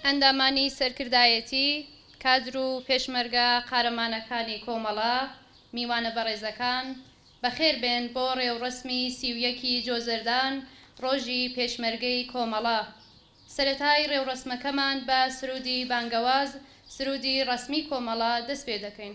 ئەندامانی سەرکردایەتی، کادر و پێشمەرگە قارەمانەکانی کۆمەڵە، میوانە بەڕێزەکان، بەخێربێن بۆ ڕێوڕەسمی سی و یەک ی جۆزەردان ڕۆژی پێشمەرگەی کۆمەڵە. سەرەتای ڕێوڕەسمەکەمان بە سروودی بانگەواز، سروودی ڕەسمی کۆمەڵە دەستپێدەکەین.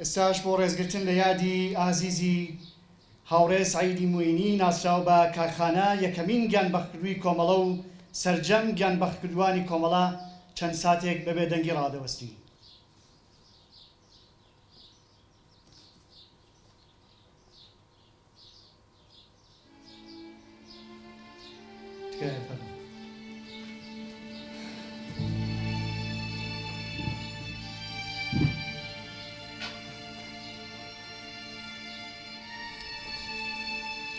ئێستاش بۆ ڕێزگرتن لە یادی ئازیزی هاوڕێ سەعیدی موینی ناسراو بە کاکخانە یەکەمین گیانبەختکردووی کۆمەڵە و سەرجەم گیانبەختکردووانی کۆمەڵە چەند ساتێک بە بێدەنگی ڕادەوەستین. تکایە فەرموو.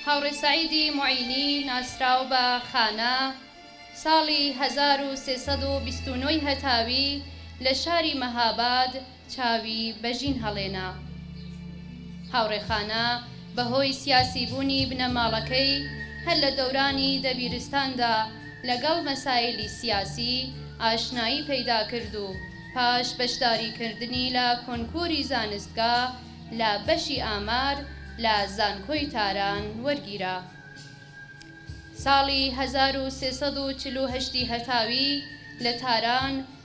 هاوڕێ سەعیدی موعینی ناسراو بە خانە، ساڵی هەزار و سێ سەد و بیست و نۆ ی هەتاوی لە شاری مەهاباد چاوی بە ژین هەڵێنا. هاوڕێ خانا بە هۆی سیاسیبوونی بنەماڵەکەی هەر لە دەورانی دەبیرستاندا لەگەڵ مەسایلی سیاسی ئاشنایی پەیدا کرد و پاش بەشداریکردنی لە کۆنکوری زانستگا لە بەشی ئامار لە زانکۆی تاران وەرگیرا ساڵی هەزار و سێ سەد و چل و هەشت ی هەتاوی لە تاران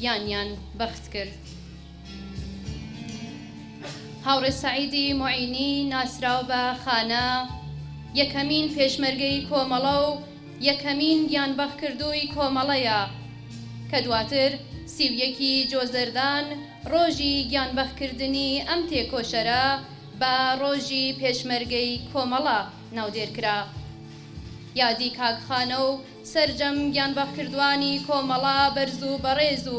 گیانیان بەخت کرد. هاوڕێ سەعیدی موعینی ناسراو بە خانە، یەکەمین پێشمەرگەی کۆمەڵە و یەکەمین گیانبەختکردووی کۆمەڵەیە، کە دواتر سی و یەکی جۆزەردان ڕۆژی گیانبەختکردنی ئەم تێکۆشەرە بە ڕۆژی پێشمەرگەی کۆمەڵە ناودێرکرا. یادی کاک خانە و سەرجەم گیانبەخکردوانی کۆمەڵە بەرز و بەڕێز و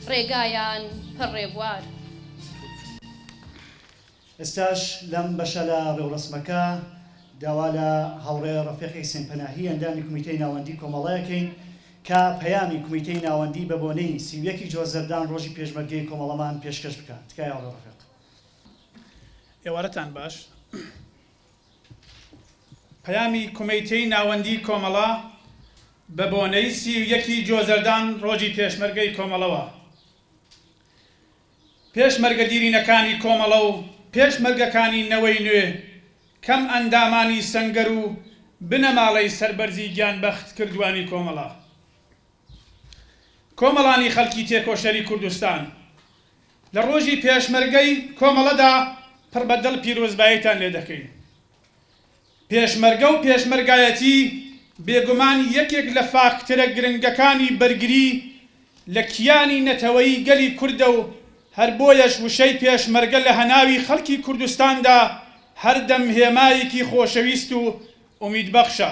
ڕێگایان پڕ ڕێبوار. ئێستاش لەم بەشە لە ڕێوڕەسمەکە داوا لە هاوڕێ ڕەفیق حیسێن پەناهی ئەندامی کومیتەی ناوەندی کۆمەڵە ئەکەین کە پەیامی کومیتەی ناوەندی بە بۆنەی سی و یەک ی جۆزەردان ڕۆژی پێشمەرگەی کۆمەڵەمان پێشکەش بکا تکایە هاوڕێ ڕەفیق. ئێوارەتان باش. پەیامی کومیتەی ناوەندی کۆمەڵە بە بۆنەی سی و یەک ی جۆزەردان ڕۆژی پێشمەرگەی کۆمەڵەوە پێشمەرگە دیرینەکانی کۆمەڵە و پێشمەرگەکانی نەوەی نوێ کەم ئەندامانی سەنگەر و بنەماڵەی سەربەرزی گیان بەخت کردوانی کۆمەڵە کۆمەڵانی خەلکی تێکۆشەری کوردستان لە ڕۆژی پێشمەرگەی کۆمەڵەدا پڕ بە دڵ پیرۆزباییتان لێ دەکەین. پێشمەرگە و پێشمەرگایەتی بێگومان یەکێک لە فاکتەرە گرنگەکانی بەرگری لە کیانی نەتەوەیی گەلی کوردە و هەر بۆیەش وشەی پێشمەرگە لە هەناوی خەڵکی کوردستاندا هەردەم هێمایەکی خۆشەویست و ئومیدبەخشە.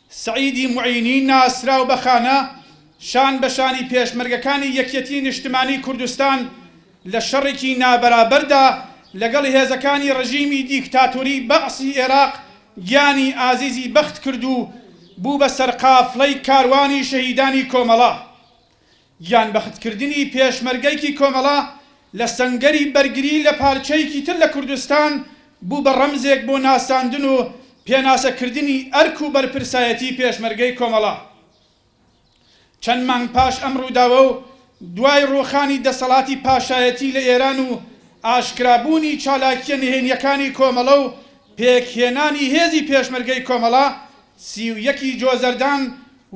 سەعیدی موعینی ناسراو بە خانە، شان بە شانی پێشمەرگەکانی یەکیەتیی نیشتمانیی کوردستان لە شەڕێکی نابەرابەردا لەگەڵ هێزەکانی ڕژیمی دیکتاتۆریی بەعسی ئێراق گیانی ئازیزی بەخت کرد و بوو بە سەرقافڵەی کاروانی شەهیدانی کۆمەڵە. گیانبەختکردنی پێشمەرگەیەکی کۆمەڵە لە سەنگەری بەرگری لە پارچەیەکی تر لە کوردستان بوو بە ڕەمزێک بۆ ناساندن و پێناسەکردنی ئەرک و بەرپرسایەتی پێشمەرگەی کۆمەڵە. چەند مانگ پاش ئەم ڕووداوە و دوای ڕووخانی دەسەڵاتی پاشایەتی لە ئێران و ئاشکرابوونی چالاکییە نهێنییەکانی کۆمەڵە و پێکهێنانی هێزی پێشمەرگەی کۆمەڵە، سی و یەک ی جۆزەردان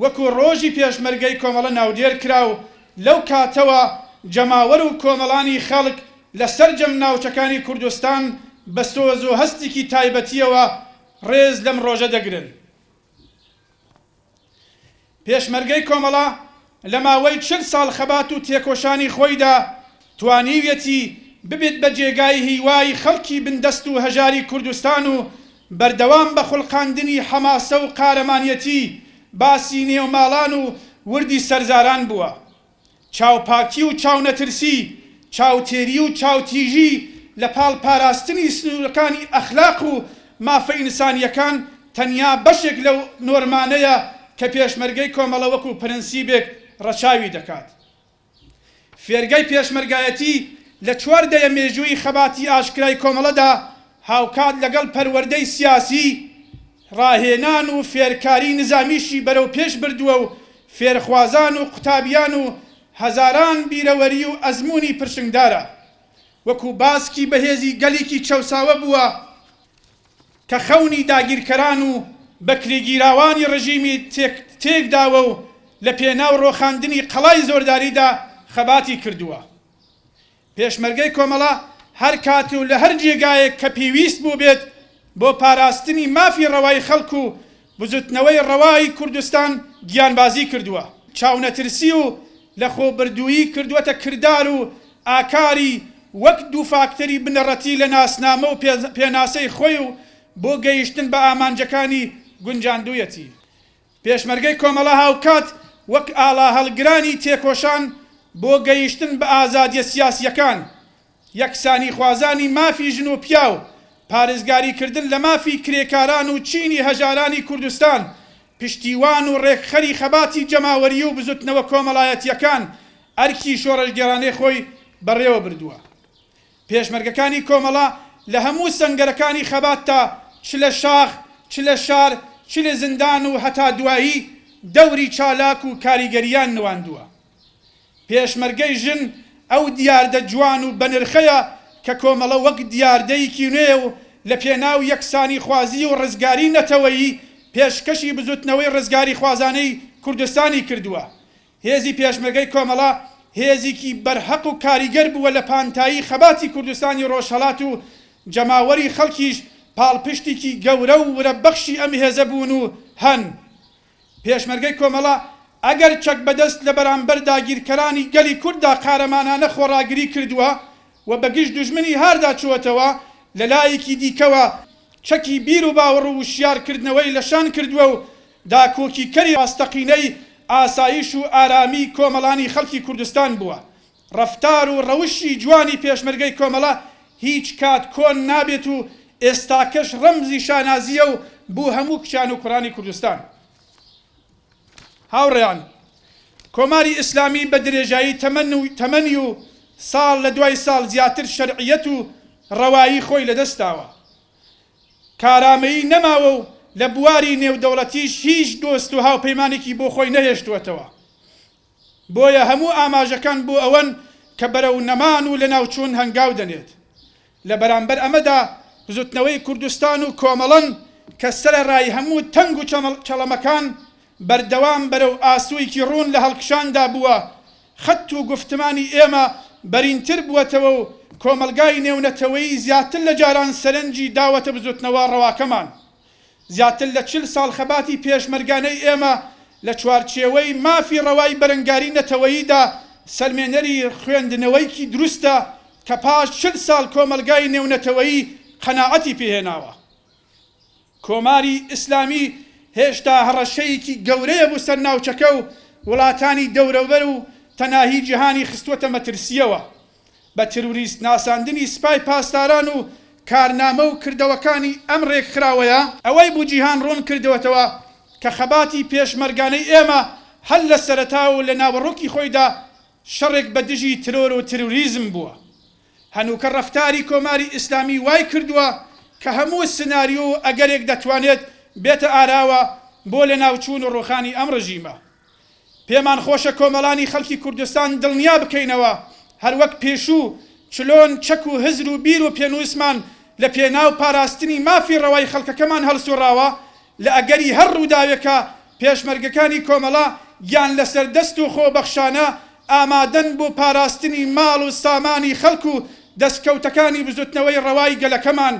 وەکو ڕۆژی پێشمەرگەی کۆمەڵە ناودێر کرا و لەو کاتەوە جەماوەر و کۆمەڵانی خەڵک لە سەرجەم ناوچەکانی کوردستان بە سۆز و هەستیکی تایبەتیەوە ڕێز لەم ڕۆژە دەگرن. پێشمەرگەی کۆمەڵە لە ماوەی چل ساڵ خەبات و تێکۆشانی خۆیدا توانیویەتی ببێت بە جێگای هیوای خەڵکی بندەست و هەژاری کوردستان و بەردەوام بە خوڵقاندنی حەماسە و قارەمانیەتی باسی نێو ماڵان و وردی سەرزاران بووە. چاوپاکی و چاونەترسی، چاوتێری و چاوتیژی لە پاڵ پاراستنی سنوورەکانی ئەخلاق و مافە ئینسانییەکان تەنیا بەشێک لەو نۆرمانەیە کە پێشمەرگەی کۆمەڵە وەکوو پرەنسیبێک ڕەچاوی دەکات. فێرگەی پێشمەرگایەتی لە چوار دەیە مێژووی خەباتی ئاشکرای کۆمەڵەدا هاوکات لەگەڵ پەروەردەی سیاسی، ڕاهێنان و فێرکاری نزامیشی بەرەوپێش بردووە و فێرخوازان و قوتابیان و هەزاران بیرەوەری و ئەزموونی پرشنگدارە وەکوو باسکی بەهێزی گەلیکی چەوساوە بووە کە خەونی داگیرکەران و بەکرێگیراوانی ڕژیمی تێک تێک داوە و لە پێناو ڕۆخاندنی قەڵای زۆرداریدا خەباتی کردووە پێشمەرگەی کۆمەڵە هەر کات و لە هەر جێگایەک کە پێویست بووبێت بۆ پاراستنی مافی ڕەوای خەڵک و بزوتنەوەی ڕەوای کوردستان گیانبازی کردووە، چاونەترسی و لە خۆبردوویی کردووەتە کردار و ئاکاری وەک دوو فاکتەری بنەڕەتی لە ناسنامە و پێناسەی خۆی و بۆ گەیشتن بە ئامانجەکانی گونجاندوویەتی پێشمەرگەی کۆمەڵە هاوکات وەک ئاڵا هەڵگرانی تێکۆشان بۆ گەیشتن بە ئازادیە سیاسیەکان، یەکسانی خوازانی مافی ژن و پیاو، پارێزگاری کردن لە مافی کرێکاران و چینی هەژارانی کوردستان، پشتیوان و ڕێکخەری خەباتی جەماوەریی و بزوتنەوە کۆمەڵایەتیەکان ئەرکی شۆڕشگێڕانەی خۆی بەڕێوە بردوە. پێشمەرگەکانی کۆمەڵە لە هەموو سەنگەرەکانی خەباتدا چ لە شاخ، چ لە شار، چ لە زیندان و هەتا دوایی دەوری چالاک و کاریگەریان نواندووە. پێشمەرگەی ژن ئەو دیاردە جوان و بەنرخەیە کە کۆمەڵە وەک دیاردەیکی نوێ و لە پێناو یەکسانیخوازی و ڕزگاری نەتەوەیی پێشکەشی بزوتنەوەی ڕزگاریخوازانەی کوردستانی کردووە هێزی پێشمەرگەی کۆمەڵە هێزیکی بەرهەق و کاریگەر بووە لە پانتایی خەباتی کوردستانی ڕۆژهەڵات و جەماوەری خەڵکیش پاڵپشتیکی گەورە و ورە بەخشی ئەم هێزە بوون و هەن. پێشمەرگەی کۆمەڵە ئەگەر چەک بەدەست لە بەرامبەر داگیرکەرانی گەلی کورددا قارەمانانە خۆڕاگری کردووە و بە گژ دوژمنی هاردا چووەتەوە، لە لایەکی دیکەوە چەکی بیر و باوەڕ و وشیار کردنەوەی لە شان کردووە و داکۆکیکەری ڕاستەقینەی ئاسایش و ئارامی کۆمەڵانی خەڵکی کوردستان بووە. ڕەفتار و ڕەوشی جوانی پێشمەرگەی کۆمەڵە هیچ کات کۆن نابێت و ئێستاکەش ڕەمزی شانازییە و بو هەموو کچان و کوڕانی کوردستان. هاوڕێیان، کۆماری ئیسلامی بە درێژایی تەمەنی و ساڵ لە دوای ساڵ زیاتر شەرعییەت و ڕەوایی خۆی لەدەست داوە. کارامەیی نەماوە و لە بواری نێودەوڵەتیش هیچ دۆست و هاوپەیمانێکی بۆ خۆی نەهێشتووەتەوە. بۆیە هەموو ئاماژەکان بۆ ئەوەن کە بەرەو نەمان و لەناوچوون هەنگاو دەنێت. لە بەرامبەر ئەمەدا بزوتنەوەی کوردستان و کۆمەڵەن کە سەرەڕای هەموو تەنگ و چەڵەمەکان بەردەوام بەرەو ئاسویکی ڕوون لە هەڵکشاندا بووە، خەت و گوفتمانی ئێمە بەرینتر بووەتەوە و کۆمەڵگای نێونەتەوەیی زیاتر لە جاران سەرنجی داوەتە بزوتنەوە ڕەواکەمان. زیاتر لە چل ساڵ خەباتی پێشمەرگانەی ئێمە لە چوارچێوەی مافی ڕەوای بەرەنگاری نەتەوەییدا سەلمێنەری خوێندنەوەیکی دروستە کە پاش چل ساڵ کۆمەڵگای نێونەتەوەیی قەناعەتی پێهێناوە. کۆماری ئیسلامی هێشتا هەڕەشەیەکی گەورەیە بۆ سەر ناوچەکە و وڵاتانی دەورەوبەر و تەناهی جیهانی خستووەتە مەترسییەوە بە تروریست ناساندنی سپای پاسداران و کارنامە و کردەوەکانی ئەم رێکخراوەیە، ئەوەی بۆ جیهان روون کردووەتەوە کە خەباتی پێشمەرگانەی ئێمە هەر لە سەرەتاوە و لە ناوەڕۆکی خۆیدا شەڕێک بە دژی ترۆر و تروریزم بووە. هەنووکە ڕەفتاری کۆماری ئیسلامی وای کردووە کە هەموو سناریۆ و ئەگەرێک دەتوانێت بێتە ئاراوە بۆ لەناوچوون و ڕووخانی ئەم ڕژیمە. پێمان خۆشە کۆمەڵانی خەڵکی کوردستان دڵنیا بکەینەوە هەر وەک پێشوو چلۆن چەک و هزر و بیر و پێنووسمان لە پێناو پاراستنی مافی ڕەوای خەڵکەکەمان هەڵسووڕاوە، لە ئەگەری هەر ڕووداوێکا پێشمەرگەکانی کۆمەڵە گیان لەسەر دەست و خۆبەخشانە ئامادەن بۆ پاراستنی ماڵ و سامانی خەڵک و دەستکەوتەکانی بزوتنەوەی ڕەوای گەلەکەمان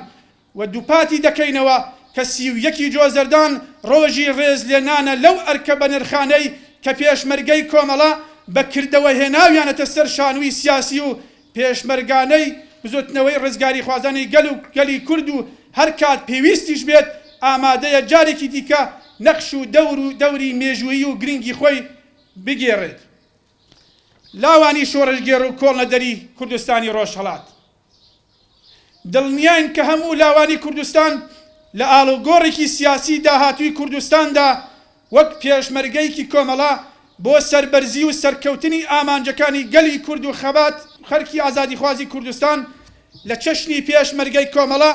و دووپاتی دەکەینەوە کە سی و یەکی جۆزەردان ڕۆژی ڕێز لێنانە لەو ئەرکە بەنرخانەی کە پێشمەرگەی کۆمەڵە بە کردەوە هێناویانەتە سەر شانووی سیاسی و پێشمەرگانەی بزوتنەوەی ڕزگاریخوازانی گەل و گەلی کورد و هەرکات پێویستیش بێت ئامادەیە جارێکی دیکە نەخش و دەور و دەوری مێژوویی و گرنگی خۆی بگێڕێت لاوانی شۆڕشگێڕ و کۆڵنەدەری کوردستانی ڕۆژهەڵات. دڵنیاین کە هەموو لاوانی کوردستان لە ئاڵوگۆڕێکی سیاسی داهاتووی کوردستاندا وەک پێشمەرگەیەکی کۆمەڵە بۆ سەربەرزی و سەرکەوتنی ئامانجەکانی گەلی کورد و خەبات و خەرکی ئازادیخوازی کوردستان لە چەشنی پێشمەرگەی کۆمەڵە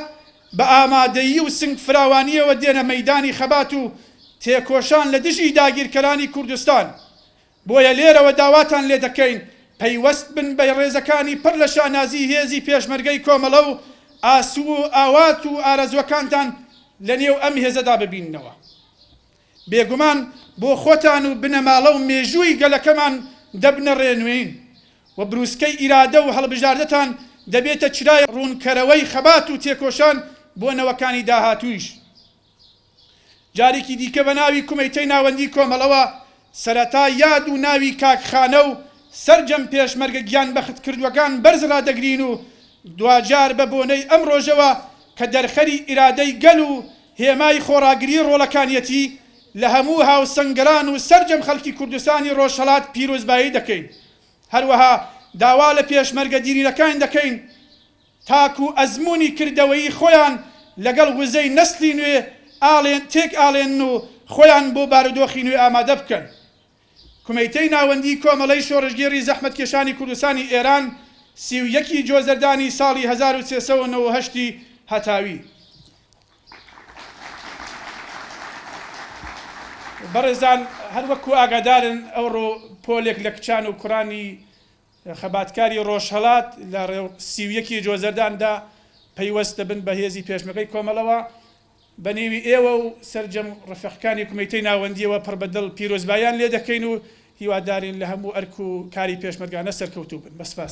بە ئامادەیی و سنگ فراوانیەوە دێنە مەیدانی خەبات و تێکۆشان لە دژی داگیرکەرانی کوردستان بۆیە لێرەوە داواتان لێ دەکەین پەیوەست بن بە ڕێزەکانی پڕ لە شانازیی هێزی پێشمەرگەی کۆمەڵە و ئاسو و ئاوات و ئارەزووەکانتان لە نێو ئەم هێزەدا ببیننەوە. بێگومان بۆ خۆتان و بنەماڵە و مێژووی گەلەکەمان دەبنە ڕێنوێین و برووسکەی ئیرادە و هەڵبژاردەتان دەبێتە چرای ڕوونکەرەوەی خەبات و تێکۆشان بۆ نەوەکانی داهاتوویش. جارێکی دیکە بە ناوی کومیتەی ناوەندی کۆمەڵەوە سەرەتا یاد و ناوی کاک خانە و سەرجەم پێشمەرگە گیان بەخت کردوەکان بەرز رادەگرین و دواجار بە بۆنەی ئەم رۆژەوە کە دەرخەری ئیرادەی گەل و هێمای خۆڕاگری رۆڵەکانیەتی لە هەموو هاوسەنگەران و سەرجەم خەلکی کوردستانی رۆژهەڵات پیرۆزبایی دەکەین هەروەها داوا لە پێشمەرگە دیرینەکان دەکەین تاکو ئەزموونی کردەوەیی خۆیان لەگەڵ وزەی نەسڵی نوێ تێکئاڵێنن و خۆیان بۆ بارودۆخی نوێ ئامادە بکەن. کومیتەی ناوەندیی کۆمەڵەی شۆڕشگێڕی زەحمەتکێشانی کوردستانی ئێران، سی و یەک ی جۆزەردانی ساڵی هەزار و سێ سەد و نەوەد و هەشت ی هەتاوی. بەڕێزان هەر وەکو ئاگادارن ئەوڕۆ پۆلێک لە کچان و کوڕانی خەباتکاری ڕۆژهەڵات لە ڕێو سی و یەک ی جۆزەردان دا پەیوەست دەبن بە هێزی پێشمەگەی کۆمەڵەوە. بە نێوی ئێوە و سەرجەم ڕفێقکانی کومیتەی ناوەندییەوە پڕ بە دڵ پیرۆزباییان لێ دەکەین و هیوادارین لە هەموو ئەرک و کاری پێشمەرگانە سەرکەوتوو بن. بە سپاس.